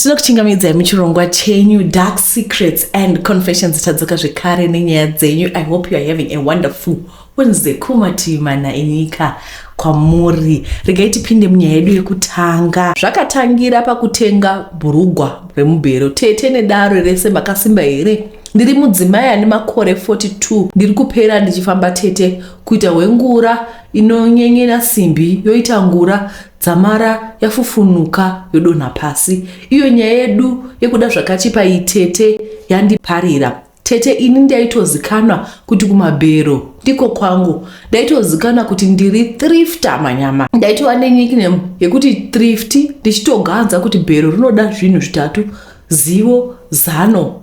tinokuchingamidzai muchirongwa chenyu dark secrets and confession dzitadzoka zvekare nenyaya dzenyu i hope youare having a wonderful wednesday kumativi mana enyika kwamuri regai tipinde munyaya yedu yekutanga zvakatangira pakutenga bhurugwa remubhero tete nedaro rese makasimba here ndiri mudzimai ane makore 42 ndiri kupera ndichifamba tete kuita hwengura inonyenyera simbi yoita ngura Dzamara yafufunuka yodonha pasi. Iyo nyaya yedu yekuda zvakachipa iyi tete yandiparira. Tete ini ndaitozikanwa kuti kumabhero ndiko kwangu. Ndaitozikanwa kuti ndiri thrifter manyama. Ndaitova ne nickname yekuti thrifty ndichitoganza kuti bhero rinoda zvinhu zvitatu zivo zano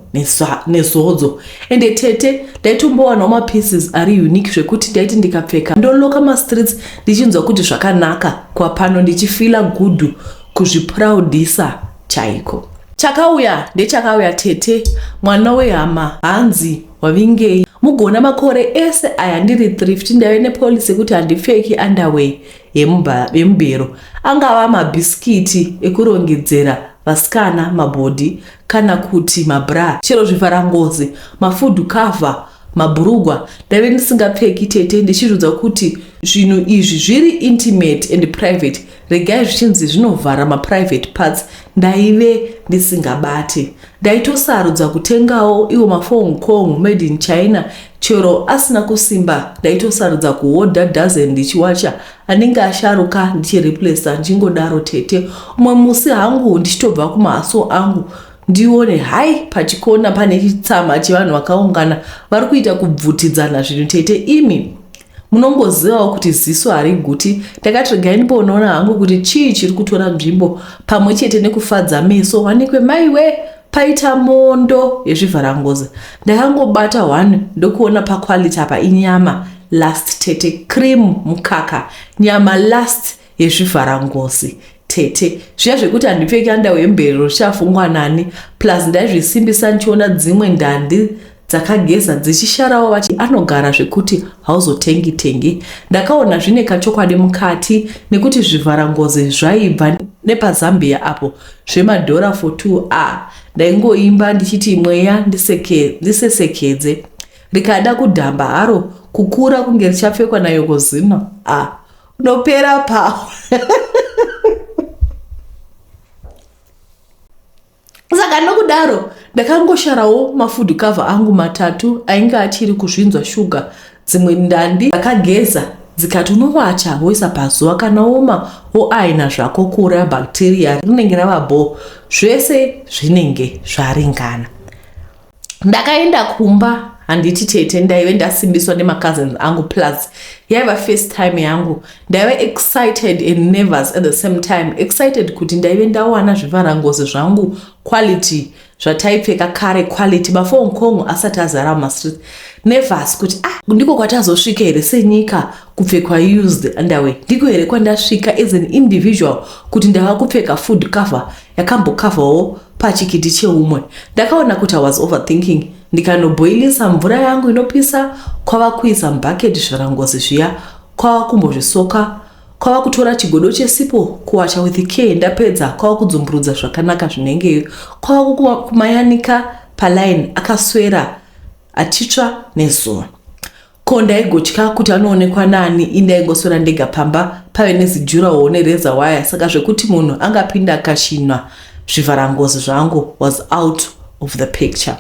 nezodzo ende tete ndaitombowanawo mapieces ari unique zvekuti ndaiti ndikapfeka ndoloka mastreets ndichinzwa kuti zvakanaka kwapano ndichifila gudhu kuzviproudisa chaiko chakauya ndechakauya tete mwana wehama hanzi wavingei mugona makore ese aya ndiri thrift ndave nepolicy yekuti handipfeki underway yemubhero angava mabhisikiti ekurongedzera vasikana mabhodhi kana kuti mabra chero zvivharangozi mafudhu kavha mabhurugwa ndaive ndisingapfeki tete ndichizviudza kuti zvinhu izvi zviri intimate and private regai zvichinzi zvinovhara maprivate parts ndaive ndisingabate ndaitosarudza kutengawo iwo mafong kong made in china Chero asina kusimba ndaitosarudza kuhodha dozen ndichiwacha anenge asharuka ndichireplacer ndichingodaro tete. Umwe musi hangu ndichitobva kumahaso angu ndione hai pachikona pane chitsama chevanhu vakaungana vari kuita kubvutidzana zvinhu tete imi munongozivawo kuti ziso hariguti ndakati regai ndimbonoona hangu kuti chii chiri kutora nzvimbo pamwe chete nekufadza meso wanikwe maiwe paita mondo yezvivharangoza ndakangobata one ndokuona paquality apa inyama last tete cream mukaka nyama last yezvivharangozi tete zviya zvekuti handipfeki andawo yemberero zvichafungwa nani plus ndaizvisimbisa ndichiona dzimwe ndandi dzakageza dzichisharawo vati anogara zvekuti hauzotengi tengi ndakaona zvine kachokwadi mukati nekuti zvivharangozi zvaibva nepazambia apo zvemadhora for 2 a ndaingoimba ndichiti mweya ndisesekedze rikada kudhamba haro kukura kunge richapfekwa nayokozino a Nopera pawo. saka nokudaro ndakangosharawo mafood cover angu matatu ainge achiri kuzvinzwa shuga dzimwe ndandi dzakageza dzikati unovacha woisa pazuva kana woma woaina zvako kuuraya bhakteriya rinenge rava bho zvese zvinenge zvaringana ndakaenda kumba handiti tete ndaive ndasimbiswa nemacousins angu plus yaiva first time yangu ndaive excited and nervous at the same time excited kuti ndaive ndawana zvivharangozi zvangu quality zvataipfeka kare quality bafo nkongo asati azara mumastreet nervous kuti ah ndiko kwatazosvika here senyika kupfekwa used underway ndiko here kwandasvika as an individual kuti ndava kupfeka food cover yakambokavhawo pachikiti cheumwe ndakaona kuti i was overthinking ndikanoboilisa mvura yangu inopisa kwava kuisa mubhaketi zvirangozi zviya kwava kumbozvisoka kwava kutora chigodo chesipo kuwacha with care ndapedza kwava kudzumburudza zvakanaka zvinengeyo kwava kumayanika paline akaswera Achitsva nezuva. Ko ndaigotya kuti anoonekwa naani ini ndaingoswera ndega pamba pave nezijurawo nereza waya saka zvekuti munhu angapinda akashinwa zvivharangozi zvangu was out of the picture.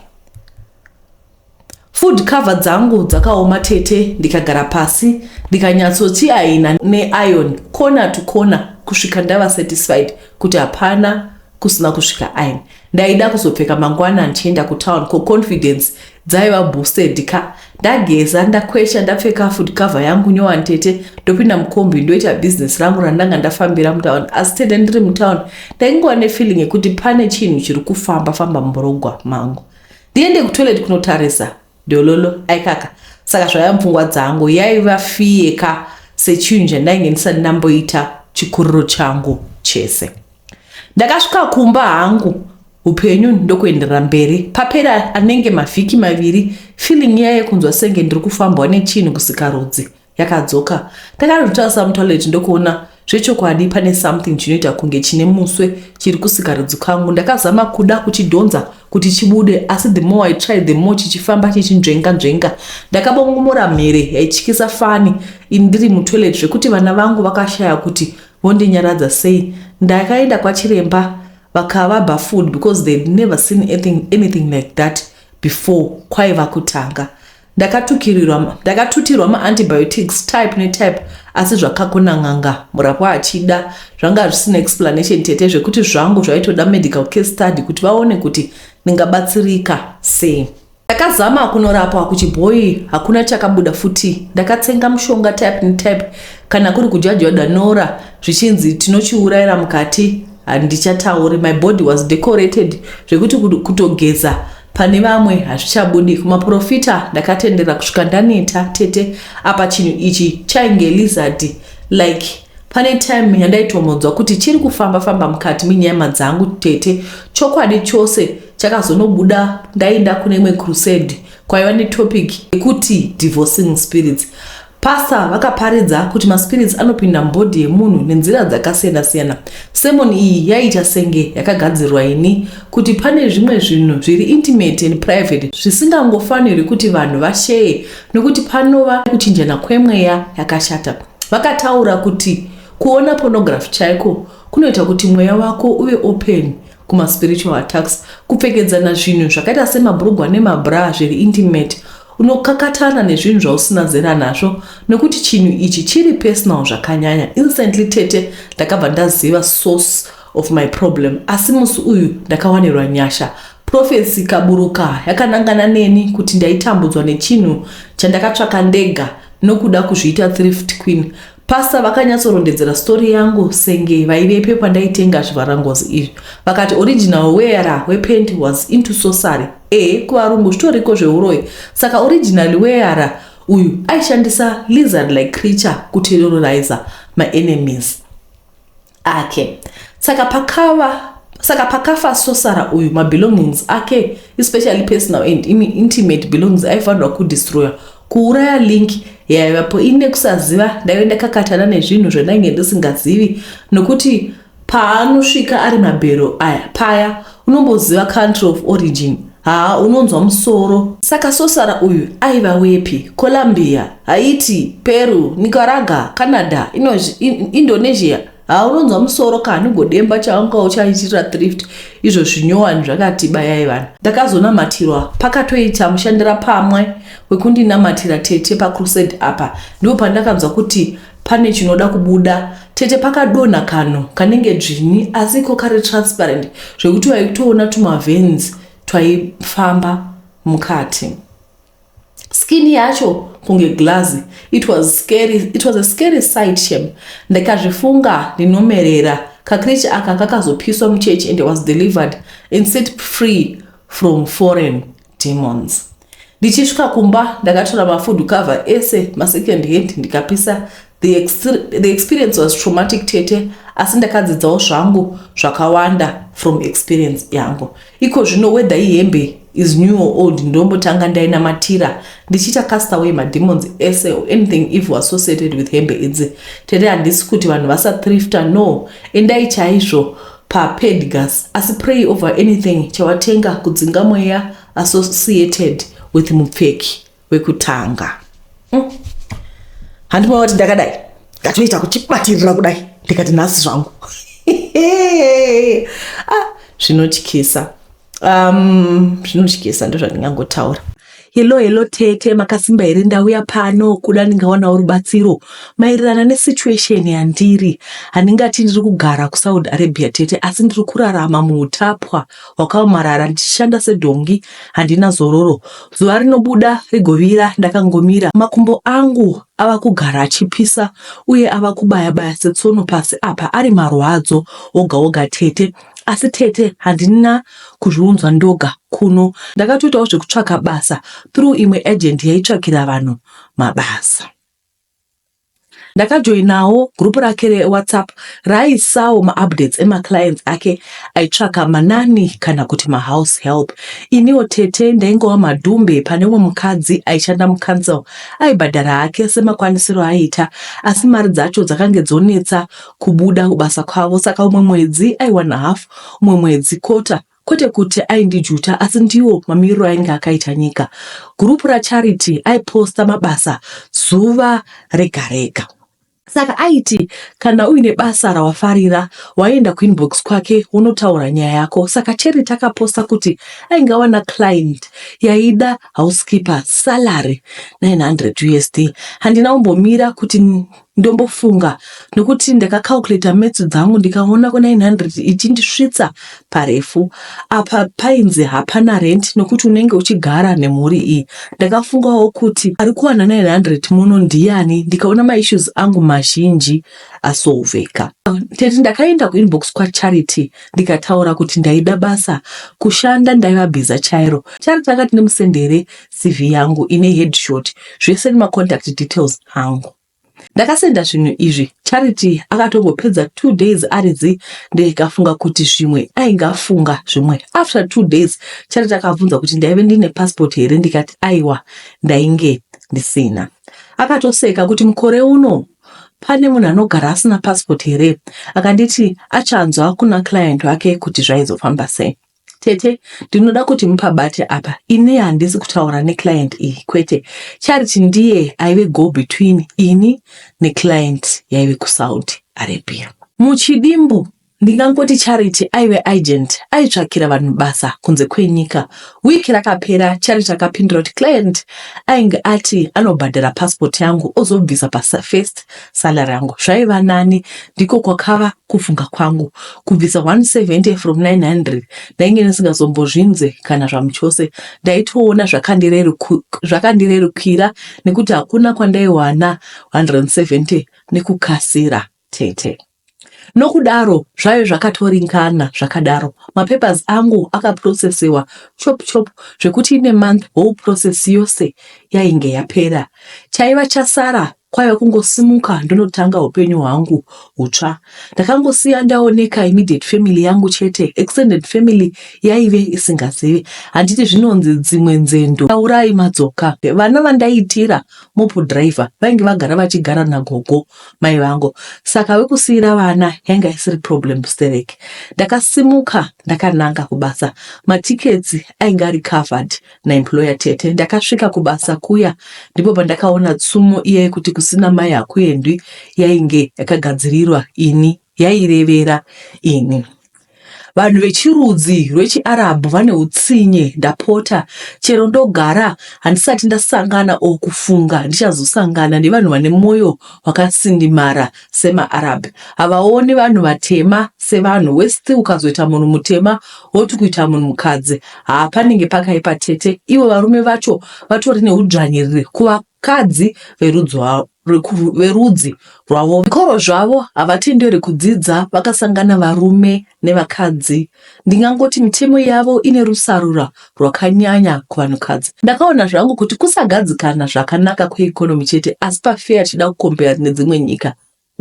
Food cover dzangu dzakaoma tete ndikagara pasi ndikanyatsochiaina neiron corner to corner kusvika ndava satisfied kuti hapana kusina kusvika ain ndaida kuzopfeka mangwana ndichienda kutown ko confidence dzaiva boosted ka ndageza ndakwesha ndapfeka food cover yangu nyowa ntete ndopinda mukombi ndoita business rangu randanga ndafambira mutown asi tete ndiri mutown ndaingova nefeeling yekuti pane chinhu chiri kufamba famba murogwa mangu ndiende kutoilet kunotarisa Dololo, Aikaka saka zvaiva mupfungwa dzangu yaiva fear ka sechinhu chandainge ndisati ndamboita chikuriro changu chese. Ndakasvika kumba hangu hupenyu ndokuenderera mberi. Papera anenge mavhiki maviri feeling iya yekunzwa senge ndiri kufambwa nechinhu kusikarudzi. yakadzoka ndakanotarisa mutoilet ndokuona zvechokwadi pane something chinoita kunge chine muswe chiri kusika rudzi kwangu ndakazama kuda kuchidhonza kuti chibude asi the more i tried the more chichifamba chichinzvenga nzvenga ndakabongomora mhere yaityisa fani ndiri mutoilet zvekuti vana vangu vakashaya kuti vondinyaradza sei ndakaenda kwachiremba vakava bafood because they never seen anything, anything like that before kwaiva kutanga ndakatukirirwa ndakatutirwa maantibiotics type netype asi zvakakona n'anga murapwa achida zvanga zvisina explanation tete zvekuti zvangu zvaitoda medical care study kuti vaone kuti ndingabatsirika sei ndakazama kunorapwa kuchibhoyi hakuna chakabuda futi ndakatsenga mushonga type netype kana kuri kudya jwadanora zvichinzi tinochiurayira mukati handichatauri my body was decorated zvekuti kutogeza Pane vamwe hazvichabudi kumaporofita ndakatendera kusvika ndaneta tete apa chinhu ichi chainge lizard like pane time yandaitomonzwa kuti chiri kufamba famba mukati menyama dzangu tete chokwadi chose chakazonobuda ndainda kune imwe crusade kwaiva netopic yekuti divorcing spirits Pastor vakaparidza kuti maspirits anopinda mubody yemunhu nenzira dzakasiyana siyana. Sermon iyi yaiita senge yakagadzirwa ini kuti pane zvimwe zvinhu zviri intimate and private zvisingangofanirwi kuti vanhu vasheye nokuti panova kuchinjana kwemweya yakashata. Vakataura kuti kuona pornography chaiko kunoita kuti mweya wako uve open kuma spiritual attacks kupfekedzana zvinhu zvakaita semabhurugwa nemabraa zviri intimate unokakatana nezvinhu zvausina zera nazvo nokuti chinhu ichi chiri personal zvakanyanya instantly tete ndakabva ndaziva source of my problem asi musi uyu ndakawanirwa nyasha profesi kaburuka yakanangana neni kuti ndaitambudzwa nechinhu chandakatsvaka ndega nokuda kuzviita thrift queen Pastor vakanyatsorondedzera story yangu senge vaivepo pandaitenga zvivharangozi izvi vakati original wearer wepent was into sosary e kuvarungu zvitoriko zveuroyi saka original wearer uyu aishandisa lizard like creature kuterrorizer maenemies ake saka pakava saka pakafa sosara uyu mabelongings ake especially personal and intimate belongings aifanirwa kudestroyer kuuraya link yaivapo ini nekusaziva ndaive ndakakatana nezvinhu zvandainge ndisingazivi nokuti paanosvika ari mabhero aya paya Unomboziva country of origin? Haa unonzwa musoro. Saka sosara uyu aiva wepi? Colombia, Haiti, Peru, Nicaragua, Canada, Inozhi, in, Indonesia? Haa unonzwa musoro ka nungodemba chaunga uchaitirira thrift izvo zvinyowani zvakati bayai vanhu. Ndakazonamatirwa pakatoita mushandira pamwe wekundinamatira tete pacrusade apa ndipo pandakanzwa kuti Pane chinoda kubuda tete pakadonha kanhu kanenge dzvinyi asi iko kari transparent zvekuti waikutoona tumavens twaifamba mukati. Skin yacho kunge glass. It was scary. It was a scary sight shem. Ndakazvifunga ndinomerera. Kakrich aka kakazopiswa muchurch and was delivered and set free from foreign demons ndichisvika kumba ndakatora mafood cover ese masecond hand ndikapisa the, extre, the experience was traumatic tete asi ndakadzidzawo zvangu zvakawanda from experience yangu iko zvino whether ihembe is new or old ndombotanga ndainamatira ndichiita cast away mademons ese or anything if was associated with hembe idzi tete handisi kuti vanhu vasathrifta no endai chaizvo so paPedgas asi pray over anything chawatenga kudzinga mweya associated with mupfeki wekutanga mm. handima wati ndakadai ndatoita kuchibatirira kudai ndikati nhasi zvangu ah, zvinotyisa ah, um zvinotyisa ndozvandingangotaura hello hello tete makasimba here ndauya pano kuda ndingawanawo rubatsiro maererana nesituation yandiri handingati ndiri kugara kusaudi arabia tete asi ndiri kurarama muutapwa hwakaomarara ndichishanda sedhongi handina zororo zuva rinobuda rigovira ndakangomira makumbo angu ava kugara achipisa uye ava kubaya baya setsono pasi apa ari marwadzo oga oga tete Asi tete handina kuzviunzwa ndoga kuno ndakatoitawo zvekutsvaka basa through imwe agent yaitsvakira vanhu mabasa. Ndakajoinawo group rake reWhatsApp raaisawo maupdates emaclients ake aitsvaka manani kana kuti mahouse help. Iniwo tete ndaingova madhumbe pane umwe mukadzi aishanda mucouncil aibhadhara hake semakwanisiro aaiita asi mari dzacho dzakange dzonetsa kubuda kubasa kwavo saka umwe mwedzi aiwana half umwe mwedzi quarter kwete kuti aindijuta asi ndiwo mamiriro ainge akaita nyika. Gurupu raCharity aiposta mabasa zuva rega rega. Saka aiti kana uine basa rawafarira waienda kuinbox kwake wonotaura nyaya yako. Saka Charity akaposta kuti ainge awana client yaida housekeeper salary 900 USD. Handina kumbomira kuti Ndombofunga nokuti ndakacalculator maths dzangu ndikaona ku 900 ichindisvitsa parefu. Apa painzi hapana rent nokuti unenge uchigara nemhuri iyi. Ndakafungawo kuti ari kuwana 900 muno ndiyani ndikaona maissues angu mazhinji asolveka. Tete ndakaenda kuinbox kwaCharity ndikataura kuti ndaida basa. Kushanda ndaiva bhiza chairo. Charity akati nemusendere CV yangu ine headshot zvese nema contact details angu. Ndakasenda zvinhu izvi Charity akatombopedza two days ari zi ndikafunga kuti zvimwe ainge afunga zvimwe. After two days Charity akabvunza kuti ndaive ndine passport here ndikati aiwa ndainge ndisina. Akatoseka kuti mukore uno pane munhu anogara asina passport here akanditi achanzwa kuna client wake kuti zvaizofamba sei. Tete, ndinoda kuti mupabate apa. Ini handisi kutaura neclient iyi, kwete. Charity ndiye aive go between ini neclient yaive kuSaudi Arabia. Muchidimbu, ndingangoti Charity aive agent aitsvakira vanhu basa kunze kwenyika. Week rakapera, Charity akapindura kuti client ainge ati anobhadhara passport yangu ozobvisa paFirst salary yangu zvaiva nani ndiko kwakava kufunga kwangu kubvisa 170 from 900 ndainge ndisingazombozvinze kana zvamuchose ndaitoona zvakandirerukira nekuti hakuna kwandaiwana 170 nekukasira tete Nokudaro zvave zvakatoringana zvakadaro mapapers angu akaprocesewa chop chop zvekuti in a month whole process yose yainge yapera. Chaiva chasara kwaiva kungosimuka ndonotanga hupenyu hwangu hutsva. Ndakangosiya ndaoneka immediate family yangu chete extended family yaive isingazivi. Handiti zvinonzi dzimwe nzendo taurai madzoka. Vana vandaitira mop driver vainge vagara vachigara nagogo mai vangu saka wekusiira vana yanga isiri problem stereki ndakasimuka ndakananga kubasa matickets ainge ari covered naemployer tete ndakasvika kubasa kuya ndipo pandakaona tsumo iya yekuti kusina mai hakuendwi yainge yakagadzirirwa ini yairevera ini Vanhu vechirudzi rwechiArabhu vane utsinye. Ndapota, chero ndogara, handisati ndasangana or kufunga ndichazosangana nevanhu vane mwoyo wakasindimara semaArab. Havaoni vanhu vatema sevanhu. Worst ukazoita munhu mutema woti kuita munhu mukadzi. Haa panenge pakaipa tete. Ivo varume vacho vatori neudzvanyiriri kuvakadzi verudzi wavo. rwerudzi rwavo. Zvikoro zvavo havatenderi kudzidza vakasangana varume nevakadzi. Ndingangoti mitemo yavo ine rusarura rwakanyanya kuvanhukadzi. Ndakaona zvangu kuti kusagadzikana zvakanaka kweeconomy chete asi pafeya tichida kukombeya nedzimwe nyika.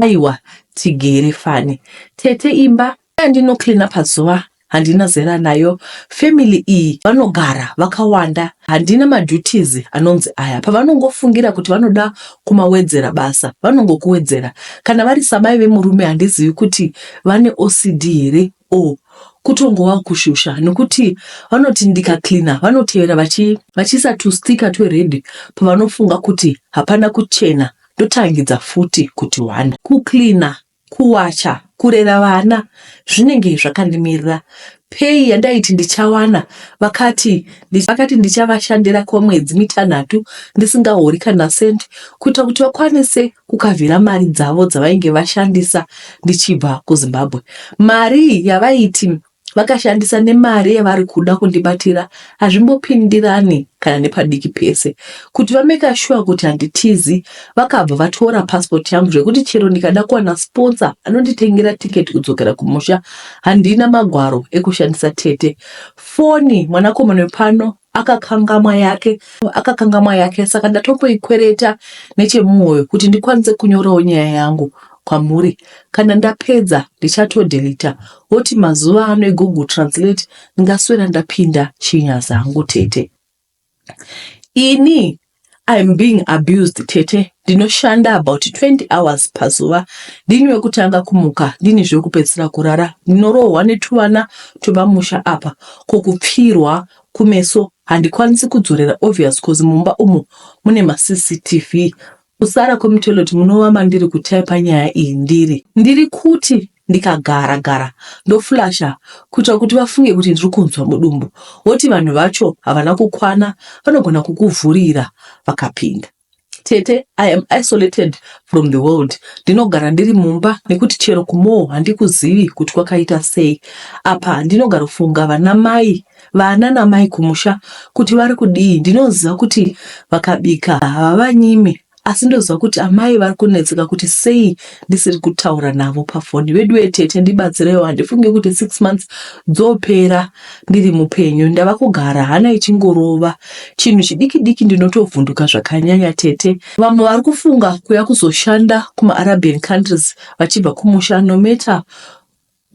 Aiwa tigere fani. Tete imba Andino cleaner pazuva handina zera nayo family iyi vanogara vakawanda handina maduties anonzi aya pavanongofungira kuti vanoda kumawedzera basa vanongokuwedzera kana vari samai vemurume handizivi kuti vane OCD here or kutongova kushusha nekuti vanoti ndika cleaner vanotevera vachi vachiisa tustika twered pavanofunga kuti hapana kuchena ndotangidza futi kuti one kucleaner Kuwacha, kurera vana zvinenge zvakandimirira. Pay yandaiti ndichawana vakati vakati ndichavashandira kwemwedzi mitanhatu ndisingahori kana cent kuita kuti vakwanise kukavhira mari dzavo dzavainge vashandisa ndichibva kuZimbabwe. Mari yavaiti vakashandisa nemari yavari kuda kundibatira hazvimbopindirani kana nepadiki pese. Kuti vameka shuwa kuti handitizi, vakabva vatora pasipoti yangu zvekuti chero ndikada kuwana siponsa anonditengera tiketi kudzokera kumusha, handina magwaro ekushandisa tete. Foni mwanakomana wepano akakangamwa yake akakangamwa yake saka ndatongoikwereta nechemumoyo kuti ndikwanise kunyorawo nyaya yangu kwamuri kana ndapedza ndichatodhelita woti mazuva ano egoogle translate ndingaswera ndapinda chinya zangu tete ini I'm being abused tete ndinoshanda about 20 hours pazuva ndini wekutanga kumuka ndini zvekupedzisira kurara ndinorohwa netuvana twepamusha apa ko kupfirwa kumeso handikwanisi kudzorera obvious cause mumba umu mune macctv kusara kwemutoilet munova mandiri kutaipa nyaya iyi ndiri ndiri kuti ndikagara gara ndoflasha kuitira kuti vafunge kuti ndiri kunzwa mudumbu woti vanhu vacho havana kukwana vanogona kukuvhurira vakapinda tete i am isolated from the world ndinogara ndiri mumba nekuti chero kumoo handikuzivi kuti kwakaita sei apa handinogarofunga vana mai vana namai kumusha kuti vari kudii ndinoziva kuti vakabika havavanyimi asi ndozwa kuti amai vari kunetseka kuti sei ndisiri kutaura navo pafoni veduwe tete ndibatsireiwo handifunge kuti six months dzopera ndiri mupenyu ndava kugara hana ichingorova chinhu chidiki diki ndinotovhunduka zvakanyanya tete vamwe vari kufunga kuya kuzoshanda kumaarabian countries vachibva kumusha nometa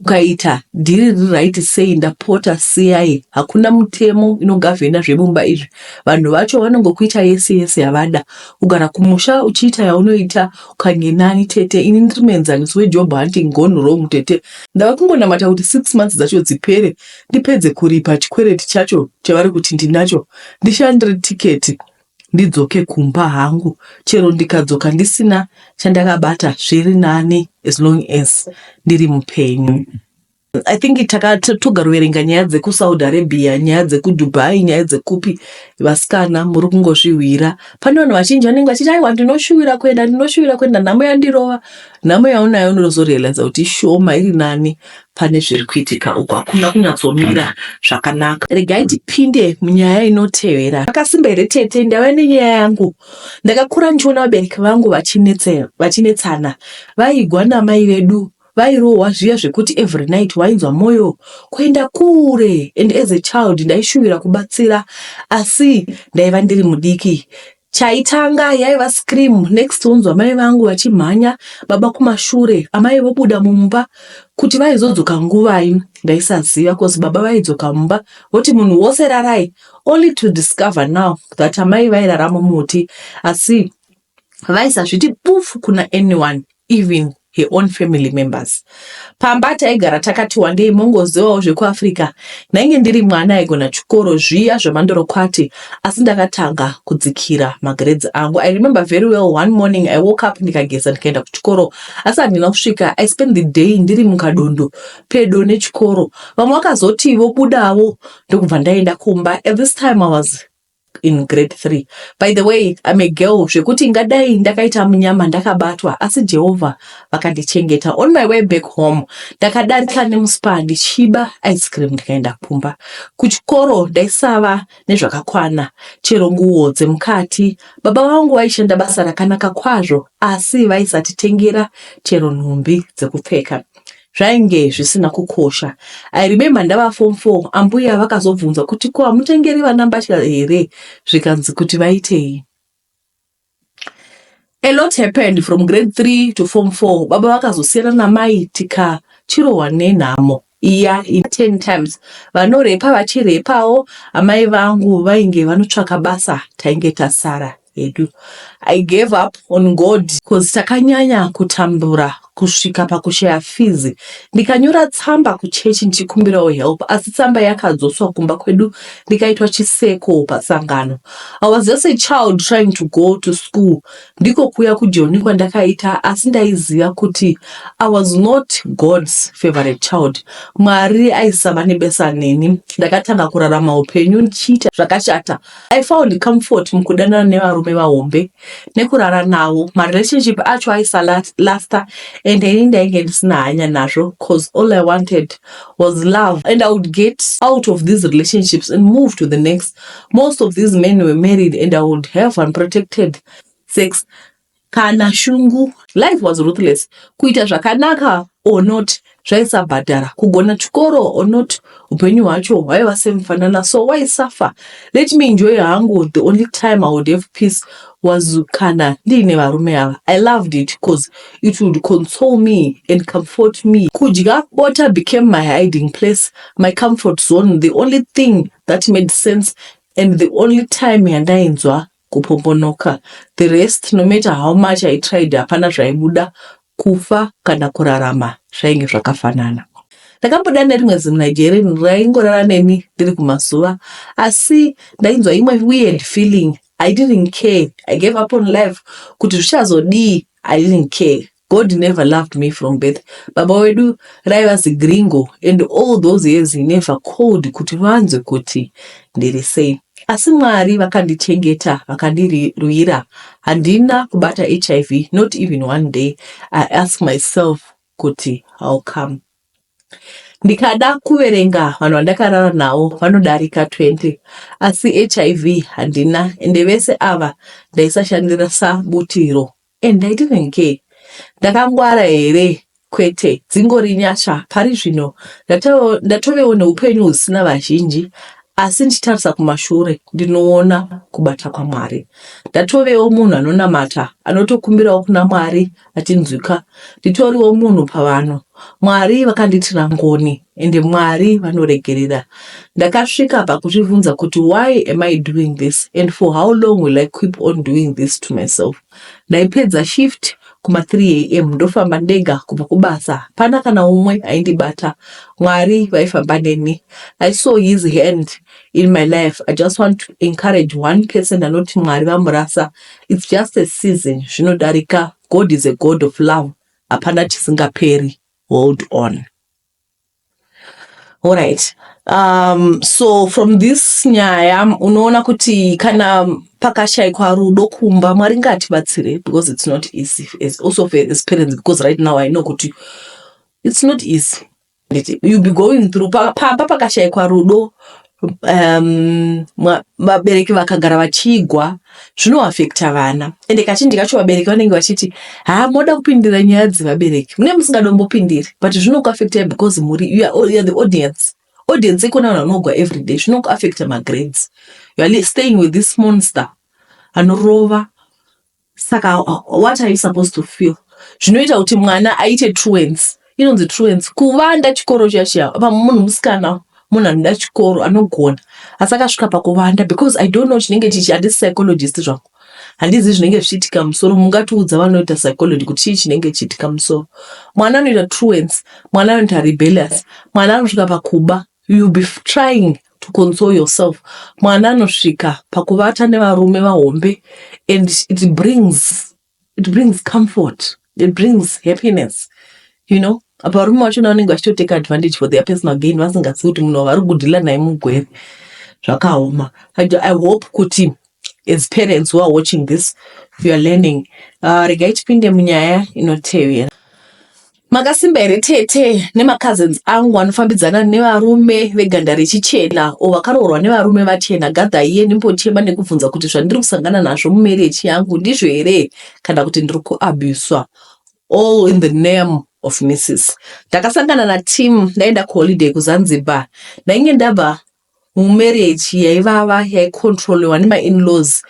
Ukaita dhiri riri right sei ndapota siyai hakuna mutemo inogovhena zvemumba izvi vanhu vacho vanongokuita yese yese yavada kugara kumusha uchiita yaunoita ukanye nani tete ini ndiri muenzaniso wejob hunting gone wrong tete ndava kungonamata kuti six months dzacho dzipere ndipedze kuripa chikwereti chacho chavari kuti ndinacho ndishandire ticket ndidzoke kumba hangu chero ndikadzoka ndisina chandakabata zviri nani as long as ndiri mupenyu I think takatogaroverenga nyaya dzekusaudi arabia nyaya dzekudubai nyaya dzekupi vasikana muri kungozvihwira pane vanhu vazhinji vanenge vachiti aiwa ndinoshuwira kuenda ndinoshuwira kuenda nhamo yandirova nhamo yaunayo unozorealiza kuti ishoma iri nani pane zviri kuitika uku hakuna kunyatsomira zvakanaka regai tipinde munyaya inotevera akasimba here tete ndava nenyaya yangu ndakakura ndichiona vabereki vangu vachinetsana vaigwa namai vedu vairohwa zviya zvekuti every night wainzwa mwoyo kuenda kure and as a child ndaishuvira kubatsira asi ndaiva ndiri mudiki Chaitanga yaiva scream next wonzwa mai vangu vachimhanya baba kumashure amai vobuda mumba kuti vaizodzoka nguvai ndaisaziva cause baba vaidzoka mumba voti munhu wose rarai only to discover now that amai vairara mumuti asi vaisazviti pufu kuna anyone even her own family members. Pamba taigara takati wandei mongozivawo zvekuAfrica. Ndainge ndiri mwana aigona chikoro zviya zvemandorokwati asi ndakatanga kudzikira magrades angu. I remember very well one morning I woke up ndikageza ndikaenda kuchikoro asi handina kusvika. I spent the day ndiri mukadondo pedo nechikoro. Vamwe vakazoti vobudawo ndokubva ndaenda kumba. At this time I was in grade 3 by the way I'm a girl zvekuti ngadai ndakaita munyama ndakabatwa asi Jehovah vakandichengeta on my way back home ndakadarika nemuspa ndichiba ice cream ndikaenda kumba kuchikoro ndaisava nezvakakwana chero nguwo dzemukati baba vangu vaishanda basa rakanaka kwazvo asi vaisatitengera chero nhumbi dzekupfeka zvainge zvisina kukosha. I remember ndava form 4 ambuya vakazobvunza kuti ko hamutengeri vana mbatya here zvikanzi kuti vaitei. A lot happened from grade 3 to form 4 baba vakazosiyana namai tika chirohwa nenhamo iya in 10 times vanorepa vachirepawo amai vangu vainge vanotsvaka basa tainge tasara. hedu. I gave up on God coz takanyanya kutambura kusvika pakushaya fees. Ndikanyora tsamba kuchechi ndichikumbirawo help asi tsamba yakadzoswa kumba kwedu ndikaitwa chiseko pasangano. I was just a child trying to go to school. Ndiko kuuya kujoni kwandakaita asi ndaiziva kuti I was not God's favorite child. Mwari aisava nebasa neni. Ndakatanga kurarama hupenyu ndichiita zvakashata. I found comfort mukudanana nevarume vahombe nekurara navo. Marelationship acho aisalasta and ini ndainge ndisina hanya nazvo cause all I wanted was love and I would get out of these relationships and move to the next. Most of these men were married and I would have unprotected sex kana shungu. Life was ruthless, kuita zvakanaka or not zvaisabhadhara, kugona chikoro or not hupenyu hwacho hwaiva same fanana, so why suffer, let me enjoy hangu, the only time I would have peace was kana ndiine varume ava, I loved it coz it would console me and comfort me, kudya bota became my hiding place, my comfort zone, the only thing that made sense and the only time yandainzwa kupombonoka the rest no matter how much I tried hapana zvaibuda kufa kana kurarama zvainge zvakafanana. Ndakamboda nerimwe zimuNigerian raingorara neni ndiri kumazuva asi ndainzwa imwe weird feeling I didn't care I gave up on life kuti zvichazodii I didn't care. God never loved me from birth baba wedu raiva zigringo and all those years he never called kuti vanzwe kuti ndiri sei asi Mwari vakandichengeta vakandirwira handina kubata hiv not even one day i ask myself kuti how come ndikada kuverenga vanhu vandakarara navo vanodarika 20 asi hiv handina ende vese ava ndaisashandira sabutiro And I didn't care ndakangwara here kwete dzingori nyasha pari zvino ndatovewo neupenyu husina vazhinji asi ndichitarisa kumashure ndinoona kubata kwamwari ndatovewo munhu anonamata anotokumbirawo kuna mwari achinzwika nditoriwo munhu pavanhu Mwari vakandiitira ngoni ende Mwari vanoregerera. Ndakasvika pakuzvivhunza kuti why am I doing this and for how long will I keep on doing this to myself. Ndaipedza shift kuma 3 am ndofamba ndega kubva kubasa hapana kana umwe aindibata Mwari vaifamba neni. I saw his hand in my life. I just want to encourage one person anoti Mwari vamurasa. It's just a season zvinodarika God is a God of love hapana chisingaperi hold on alright um, so from this nyaya unoona kuti kana pakashaikwa rudo kumba mwari ngatibatsire because it's not easy as also as parents because right now i know kuti it's not easy Nditi you be going through pa- pamba pakashaikwa rudo um, mwa- vabereki vakagara vachigwa zvinoafekta vana ende kazhinji kacho vabereki vanenge vachiti haa moda kupindira nyaya dzevabereki mune musingadombopindiri but zvinokuafektai because muri you are, all- you are the audience audience ikona vanhu vanogwa everyday zvinokuafekta magrades you are li- staying with this monster anorova saka what are you supposed to feel zvinoita kuti mwana aite truance inonzi truance kuvanda chikoro chiya chiya apa munhu musikana munhu anoda chikoro anogona asi akasvika pakuvanda because i don't know chinenge chichi handisi psychologist zvangu handizi zvinenge zvichiitika musoro mungatiudza vanoita psychology kuti chii chinenge chiitika musoro mwana anoita truance mwana anoita rebellious mwana anosvika pakuba You'll be trying to console yourself. Mwana anosvika pakuvata nevarume vahombe and it brings, it brings comfort. It brings happiness. You know, apa varume vacho na vanenge vachitotake advantage for their personal gain vasingazivi kuti munhu wavari kudhila naye mugwere zvakaoma. I, I hope kuti As parents who are watching this, you are learning. Uh, regai tipinde munyaya inotevera. Makasimba here tete nemacousins angu anofambidzana nevarume veganda rechichena o vakaroorwa nevarume vachena gadha iye ndimbochema nekubvunza kuti zvandiri kusangana nazvo mumerechi yangu ndizvo here kana kuti ndiri kuabuswa all in the name of missis ndakasangana natim ndaenda kuholiday kuzanzibar ndainge ndabva mumarriage yaivava yaicontroliwa nemainlaws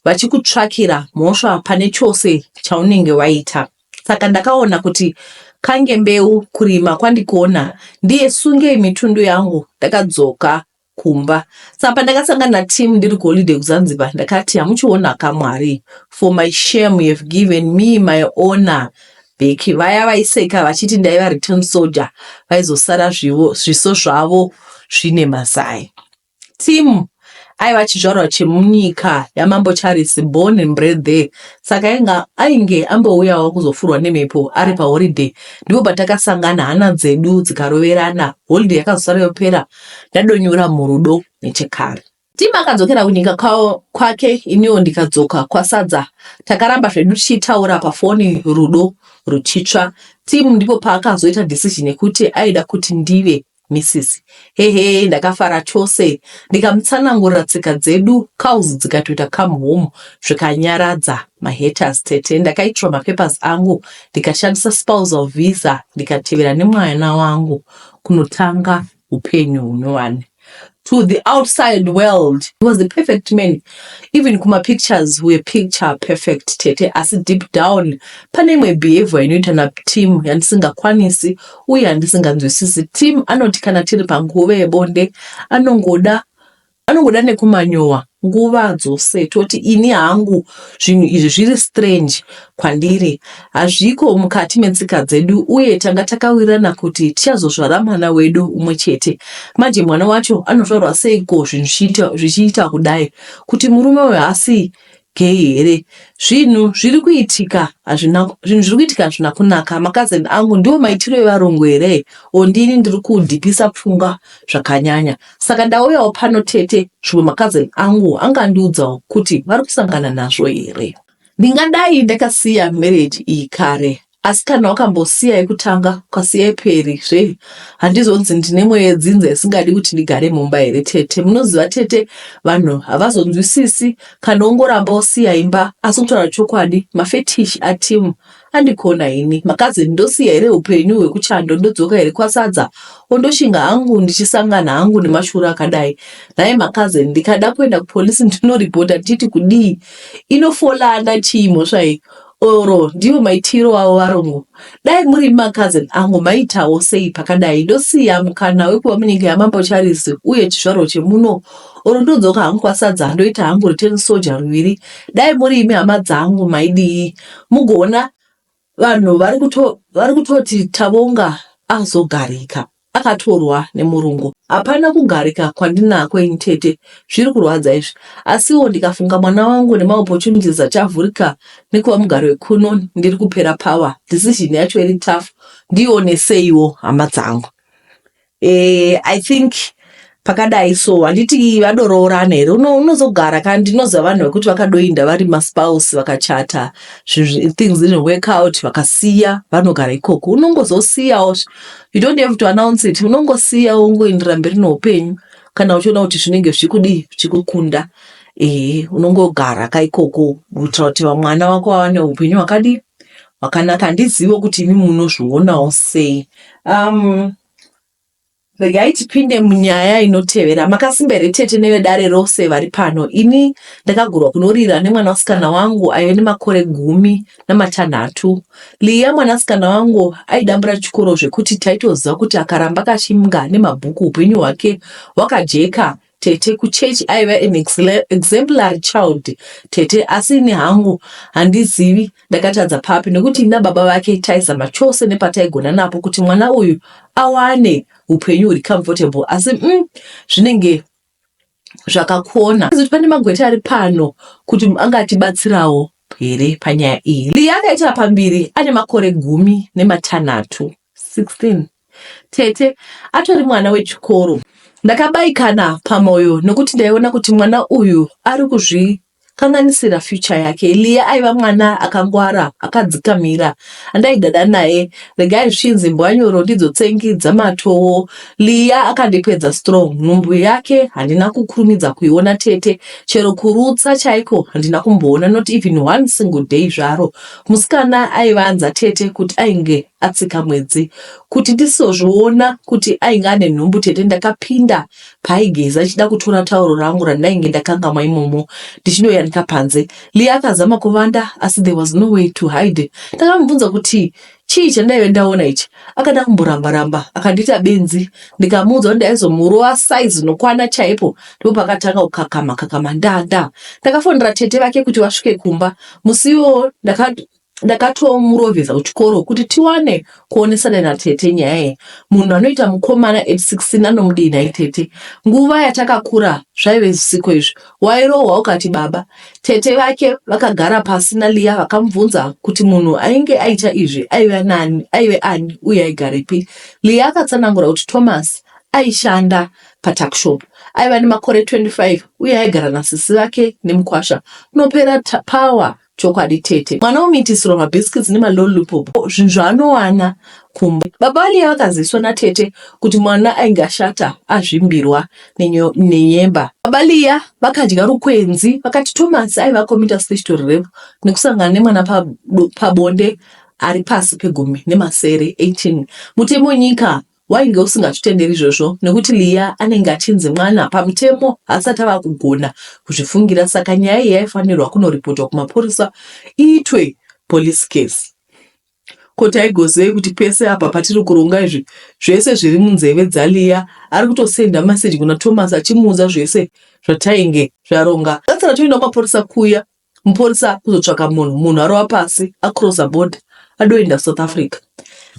vachikutsvakira mhosva pane chose chaunenge waita saka ndakaona kuti kange mbeu kurima kwandikona ndiye sungei mitundu yangu ndakadzoka kumba saka pandakasangana natim ndiri kuholiday kuzanzibar ndakati hamuchiona kamwari for my shame you have given me my owner Bheki vaya vaiseka vachiti ndaiva return soldier vaizosara zvivo zviso zvavo zvine mazai. Tim aiva chizvarwa chemunyika yamambo Charles born and bred there saka ainge ainge ambouyawo kuzofurwa nemhepo ari paholiday ndipo patakasangana hana dzedu dzikaroverana holiday yakazosara yopera ndadonyura murudo nechekare. Tim akadzokera kunyika kwake iniwo ndikadzoka kwaSadza. Takaramba zvedu tichitaura pafoni rudo ruchitsva. Tim ndipo paakazoita decision yekuti aida kuti ndive Mrs. Hehe ndakafara chose ndikamutsanangurira tsika dzedu cows dzikatoita come home zvikanyaradza mahaters tete. Ndakaitirwa mapapers angu ndikashandisa spousal visa ndikatevera nemwana wangu kunotanga hupenyu hunowani to the outside world he was a perfect man even kuma pictures we picture perfect tete asi deep down pane imwe behavior inoita na team yandisingakwanisi uye yandisinganzwisisi team anoti kana tiri panguva yebonde anongoda Anongoda nekumanyowa nguva dzose toti ini hangu zvinhu izvi zviri strange kwandiri hazviko mukati metsika dzedu uye tanga takawirirana kuti tichazozvara mwana wedu umwe chete manje mwana wacho anozvarwa seiko zvinhu zvichiita kudai kuti murume uyo haasi Gay here zvinhu zviri kuitika hazvina zvinhu zviri kuitika hazvina kunaka makazeni angu ndiwo maitiro evarungu here or ndini ndiri kudhipisa pfungwa zvakanyanya saka ndauyawo pano tete zvimwe makazeni angu angandiudzawo kuti vari kusangana nazvo here ndingadai ndakasiya marriage iyi kare Asi kana wakambosiya yekutanga ukasiya yeperi zve handizonzi ndine mweya yedzinza isingadi kuti ndigare mumba here tete munoziva tete vanhu havazonzwisisi kana ungoramba wosiya imba asi kutaura chokwadi mafetish atimu andikona ini makazeni ndosiya here upenyu hwekuchando ndodzoka here kwasadza ondoshinga hangu ndichisangana hangu nemashura akadai nhai makazeni ndikada kuenda kupolisi ndinoripota ndichiti kudii inofolanda chii mhosva iyi Or ndiwo maitiro avo varungu. Dai muri ma cousin angu maitawo sei pakadai ndosiya mukana wekuva munyika yamambo Charles uye chizvarwa chemuno or ndodzoka hangu kwaSadza ndoita hangu return soldier ruviri. Dai muri imi hama dzangu maidii mugoona vanhu vari kutoti Tavonga azogarika. akatorwa nemurungu. Hapana kugarika kwandinako ini tete zviri kurwadza izvi asiwo ndikafunga mwana wangu nema opportunities achavhurika nekuva mugari wekuno ndiri kupera power decision yacho iri tough ndione seiwo hama dzangu eh, I think pakadai so handiti vadoroorana here unozogara kana ndinoziva vanhu vekuti vakadoinda vari maspouse vakachata things didn't work out vakasiya vanogara ikoko unongozosiyawo you don't have to announce it unongosiya ungoindira mberi neupenyu kana uchiona kuti zvinenge zvichikudii zvichikukunda ehe unongogara ka ikoko kuitira kuti vamwana vako vawane upenyu hwakadii hwakanaka handizivo kuti imi munozvionawo sei um, regai tipinde munyaya inotevera makasimba here tete nevedare rose vari pano ini ndakagurwa kunorira nemwana wasikana wangu aive nemakore gumi namatanhatu liya mwanasikana wangu aidambura chikoro zvekuti taitoziva kuti akaramba kachimga nemabhuku upenyu hwake hwakajeka Tete kuchechi aiva an exemplary child tete asi ini hangu handizivi ndakatadza papi nekuti ina baba vake taizama chose nepataigona napo kuti mwana uyu awane upenyu huri comfortable asi mm, zvinenge zvakakona kuti pane magweta ari pano kuti angatibatsirawo here panyaya iyi liya akaita pambiri ane makore gumi nematanhatu 16 Tete atori mwana wechikoro. Ndakabaikana pamoyo nokuti ndaiona kuti mwana uyu ari kuzvikanganisira future yake. Lia aiva mwana akangwara, akadzikamira andaidada naye. Regai zvichinzi mbwanyoro ndidzo tsengi dzamatowo. Lia akandipedza strong. Nhumbu yake handina kukurumidza kuiona tete. Chero kurutsa chaiko handina kumboona not even one single day zvaro. Musikana aiva anza tete kuti ainge atsika mwedzi. Kuti ndisizozviona kuti ainge ane nhumbu tete ndakapinda paaigeza ichida kutora tauro rangu randainge ndakangamwa imomo ndichinoyanika panze. Lee akazama kuvanda asi there was no way to hide. Ndakamubvunza kuti chii chandaive ndaona ichi. Akada kumboramba ramba akandiita benzi ndikamuudza kuti ndaizomurova size nokwana chaipo ndipo pakatanga kukakama kakama ndaa ndaa. Ndakafonera tete vake kuti vasvike kumba Musi iwowo ndakato ndakatomurovesa kuchikoro kuti tiwane kuonesana natete nyaya iyi munhu anoita mukomana at 16 anomudii nhai tete nguva yatakakura zvaive zvisiko izvi wairohwa ukati baba tete vake vakagara pasi naliya vakamubvunza kuti munhu ainge aita izvi aive nani aive ani uye aigarepi liya akatsanangura kuti thomas aishanda paTuckshop. Aiva nemakore 25 uye aigara nasisi vake nemukwasha. Unopera power chokwadi tete. Mwana womitisirwa mabiscuits nemalollipop zvinhu zvaanowana kumba. Baba vaLiya vakaziviswa natete kuti mwana ainge ashata azvimbirwa nenyemba. Baba Liya vakadya rukwenzi vakati Thomas aiva committer special rape nekusangana nemwana pabonde ari pasi pegumi nemasere 18 mutemo nyika Wainge usingazvitenderi izvozvo nekuti Leah anenge achinzi mwana pamutemo haasati ava kugona kuzvifungira saka nyaya iyi yaifanirwa kunoripotwa kumapurisa iitwe police case. Ko taigozivei kuti pese apa patiri kuronga izvi zvese zviri munzeve dzaLeah ari kutosenda message kuna Thomas achimuudza zvese zvatainge zvaronga. Tatsara toenda kumapurisa kuya Mupurisa akuzotsvaka munhu, munhu arova pasi, acrosa border, adoenda South Africa.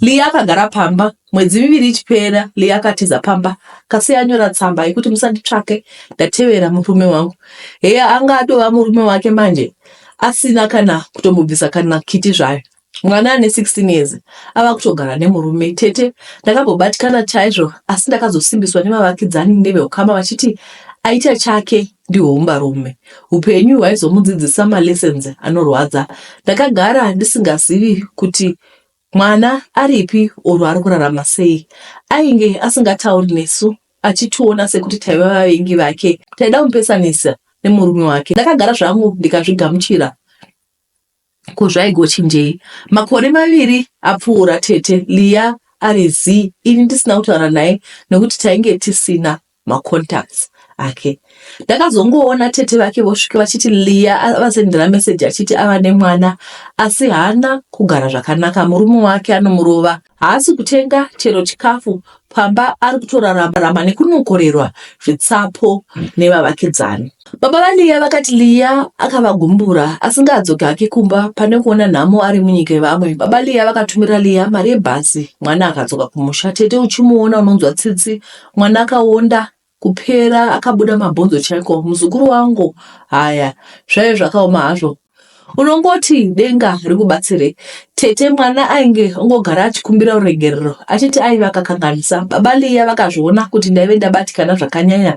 Lee akagara pamba, mwedzi miviri ichipera, Lee akatiza pamba, kasi anyora tsamba yekuti musanditsvake, ndatevera murume wangu. Heya anga atova murume wake manje, asina kana kutombobvisa kana kiti zvayo. Mwana ane 16 years ava kutogara nemurume. Tete, ndakambobatikana chaizvo asi ndakazosimbiswa nemavakidzani neveukama vachiti aita chake ndihwo humbarume. Hupenyu hwaizomudzidzisa malessons anorwadza. Ndakagara ndisingazivi kuti mwana aripi or ari kurarama sei. Ainge asingatauri nesu achitiona sekuti taiva vavengi vake. Taida kumupesanisa nemurume wake. Ndakagara zvangu ndikazvigamuchira. Ko zvaigochinjei makore maviri apfuura tete Leah ari zii ini ndisina kutaura naye nekuti tainge tisina macontacts ake. Ndakazongoona tete vake vosvika vachiti Leah avasendera message achiti ava nemwana asi haana kugara zvakanaka murume wake anomurova Haasi kutenga chero chikafu pamba ari kutorarama nekunokorerwa zvitsapo nevavakidzani. Baba vaLiya vakati Liya akavagumbura asingadzoki hake kumba pane kuona nhamo ari munyika yevamwe. Baba Liya vakatumira Liya mari yebhazi, mwana akadzoka kumusha. Tete uchimuona unonzwa tsitsi, mwana akaonda Kupera akabuda mabhonzo chaiko muzukuru wangu haya zvaive zvakaoma hazvo unongoti denga rikubatsire tete mwana ainge ongogara achikumbira ruregerero achiti aive akakanganisa baba liya vakazviona kuti ndaive ndabatikana zvakanyanya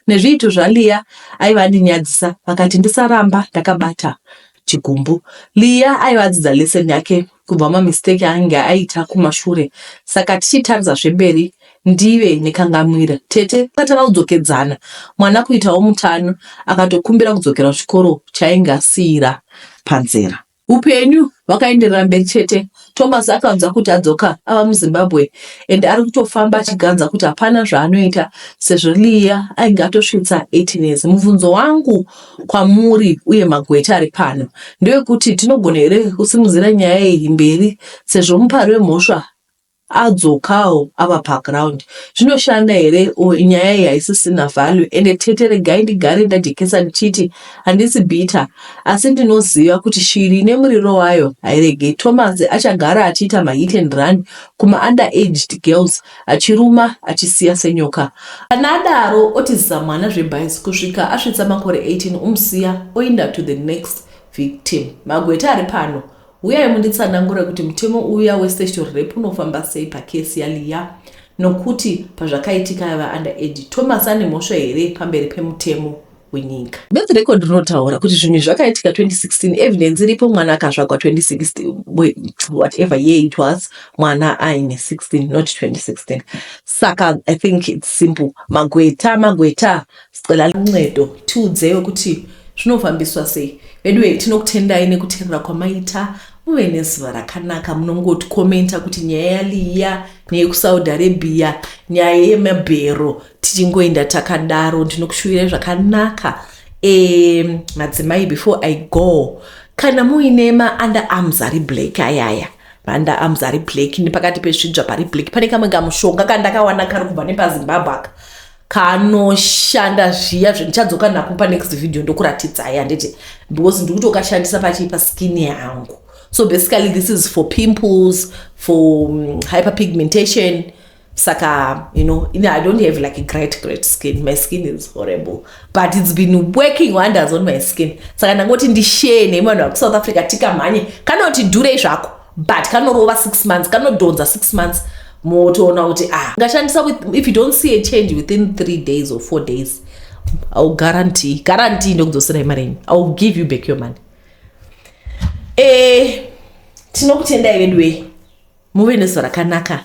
nezviito zvaliya aive andinyadzisa vakati ndisaramba ndakabata chigumbu. Leah aiva adzidza lesson yake kubva mamistake aange aita kumashure saka tichitarisa zvemberi ndive nekangamwira. Tete vakati vaudzokedzana mwana kuitawo mutano akatokumbira kudzokera kuchikoro chaainge asiira panzira. Upenyu hwakaenderera mberi chete Thomas akanzwa kuti adzoka ava muZimbabwe and ari kutofamba achiganza kuti hapana zvaanoita sezvo Leah ainge atosvitsa 18 years. Mubvunzo wangu kwamuri uye magweta ari pano ndewekuti tinogona here kusimudzira nyaya iyi mberi sezvo mupari wemhosva adzokawo ava paground zvinoshanda here or nyaya iyi haisisina value ende tete regai ndigare ndajekesa ndichiti Handisi bitter asi ndinoziva kuti shiri ine muriro wayo hairegei. Thomas achagara achiita mahit and run kumaUnder aged girls achiruma achisiya senyoka. Kana adaro otiza mwana zvebhazi kusvika asvitsa makore 18 omusiya oinda to the next victim. Magweta ari pano huyai munditsanangure kuti mutemo uya westatutory rape unofamba sei pacase yaLeah nokuti pazvakaitika aiva under age. Thomas ane mhosva here pamberi pemutemo? wenyika. Birth record rinotaura kuti zvinhu zvakaitika 2016 evidence iripo mwana akazvagwa 2016 whatever year it was mwana aine 16 not 2016 saka i think it's simple magweta magweta sicela luncedo tiudzeyo kuti zvinofambiswa sei veduwe tinokutendai nekuterera kwamaita muve nezuva rakanaka munongotikomenta kuti nyaya yaliya neyekusaudi arabia nyaya yemabhero tichingoenda takadaro ndinokushuvirai zvakanaka um madzimai before i go kana muine maunda arms ari black ayaya maunda arms ari black nepakati pezvidzva pari black pane kamwe kamushonga kandakawana kari kubva nepazimbabwe aka kanoshanda zviya zvendichadzoka nako panext video ndokuratidzai handiti because ndikutokashandisa pachii paskin yangu so basically this is for pimples for um, hyperpigmentation saka you know you know i don't have like a great great skin my skin is horrible but it's been working wonders on my skin saka ndangoti ndishee nemi vanhu vakusouth africa tikamhanye kanoti dhurei zvako but kanorova six months kanodhonza six months motoona kuti ah ngashandisa if you don't see a change within three days or four days iwill guarantee guarantee ndokudzosera imari yenyu iwill give you back your money e eh, tinokutendai veduwei muve nezuva rakanaka